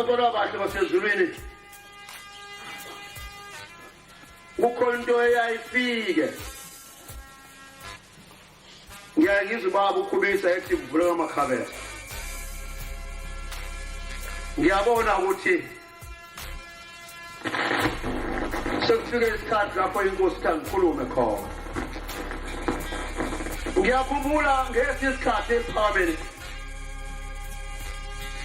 Kodwa abahle basezulwini kukhona into eyayifike ngiyaye ngizwe ubaba ukhubisa ethi kuvuleka amakhabela ngiyabona ukuthi sekufike isikhathi lapho inkosi ithi angikhulume khona ngiyakhumbula ngesinye isikhathi esiphakameni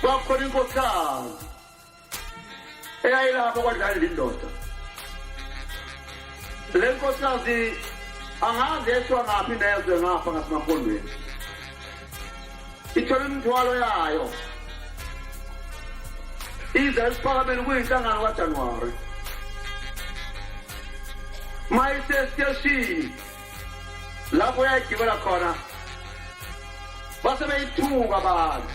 kwakukhona inkosikazi eyayilapho kwadlala indoda le nkosikazi angazi yeshwa ngaphi nezwe ngapha ngasemapondweni ithole imithwalo yayo ize esiphakameni kuyinhlangano kajanuwari ma isesiteshini lapho yayigibela khona base beyithuka abantu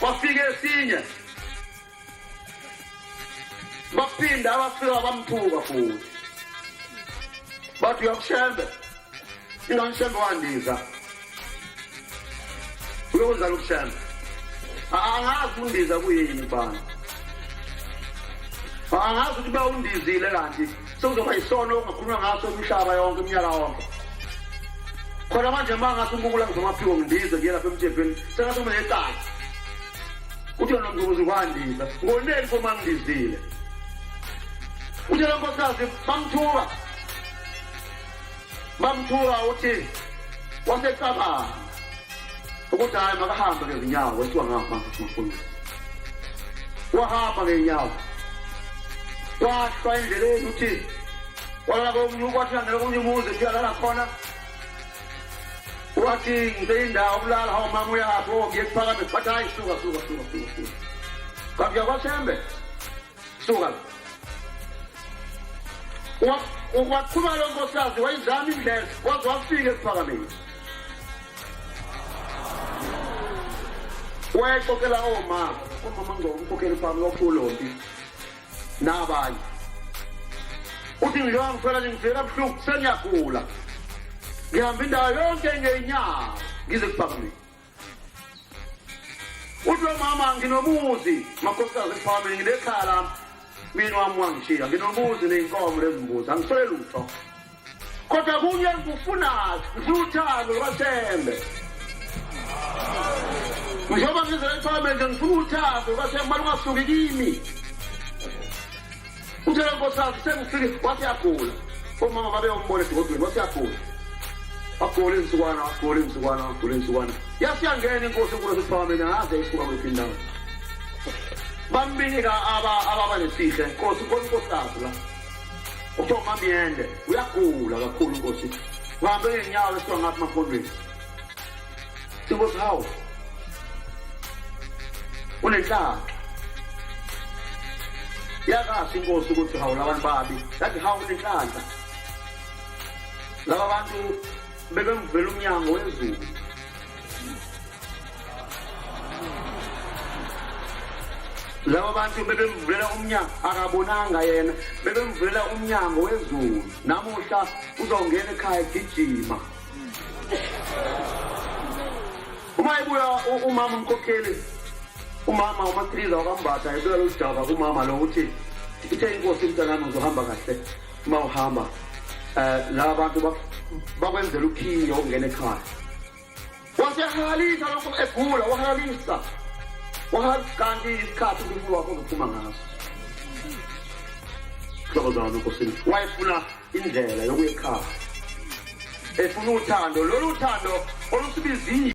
kwafika esinye baphinda abafika bamthuka futhi bathi uyakushembe inganishembe wandiza uyokuzala ukushembe angazi undiza kuyini bani angazi ukuthi bawundizile kanti sekuzoba yisono ongakhulunywa ngaso umhlaba yonke umnyaka wonke khona manje ma ngathi umbukula ngizomaphiwo ngibize ngiye lapha emthethweni sengathi uma necala uthi yona mzukuzi kwandisa ngoneli fo mangidizile uthi lo nkosikazi bamthuka bamthuka uthi wasecabanga ukuthi hhayi makahambe ngezinyawo wethiwa ngamafundo wahamba ngey'nyawo wahlwa endleleni uthi walala komunye ukwathi angeke omunye umuzi kuyalala khona wathi ngibeyindawo kulala hawu mama uyaphi o oh, ngiye kuphakame bathi hayi suka suka suka suka suka kanti uyakwashembe suka waqhuba lo nkosikazi wayizama indlela waze wafika esiphakameni wayexoxela omama omama ngizomkhokhela iphamu lokhulombi nabanye uthi ngilowa ngifela nje ngivela buhlungu sengiyagula ngihamba indawo yonke ngeyinyawo ngize kuphakameni uthi lo mama nginomuzi makhosikazi kuphambili nginekhaya lami mina wami wangishiya nginomuzi neyinkomo lezimbuzi angiswele lutho kodwa kunye ngikufunayo ngifuna uthando lwathembe njengoba ngizela ekuphambili nje ngifuna uthando lwathembe malungasuki kimi Uthe lo nkosikazi sengifike wathi yagula. Omama babeyombona esigodweni wathi yagula. Wagula insukwana, wagula insukwana, wagula insukwana. Yasiyangena inkosi enkulu esiphakameni aze isuka kwiphi indawo. Bambika aba ababa nesihle. Nkosi nkosi nkosikazi la. Uthiwa mamyende uyagula kakhulu nkosi. Uhambe ngenyawo esiwa ngathi mafondweni. Inkosi hawu. Unenhlamba. Yakathi inkosi ukuthi hawu labantu babi. Yathi hawu unenhlamba. Laba bantu bebemvela umnyango wezulu. laba bantu bebemvulela umnyango akabonanga yena bebemvulela umnyango wezulu namuhla uzongena ekhaya gijima uma ibuya umama umkhokheli umama umathiliza wakambatha ebuya loludaba kumama lo ukuthi ithe inkosi mntanami uzohamba kahle uma uhamba um la bantu bakwenzela ukhiyo ungena ekhaya wasehalalisa lokho egula wahalalisa wahakanti isikhathi umphefumulo wakho uzophuma ngaso hlobo zami nkosini wayefuna indlela yokuyikhaya efuna uthando lolu thando olusibizile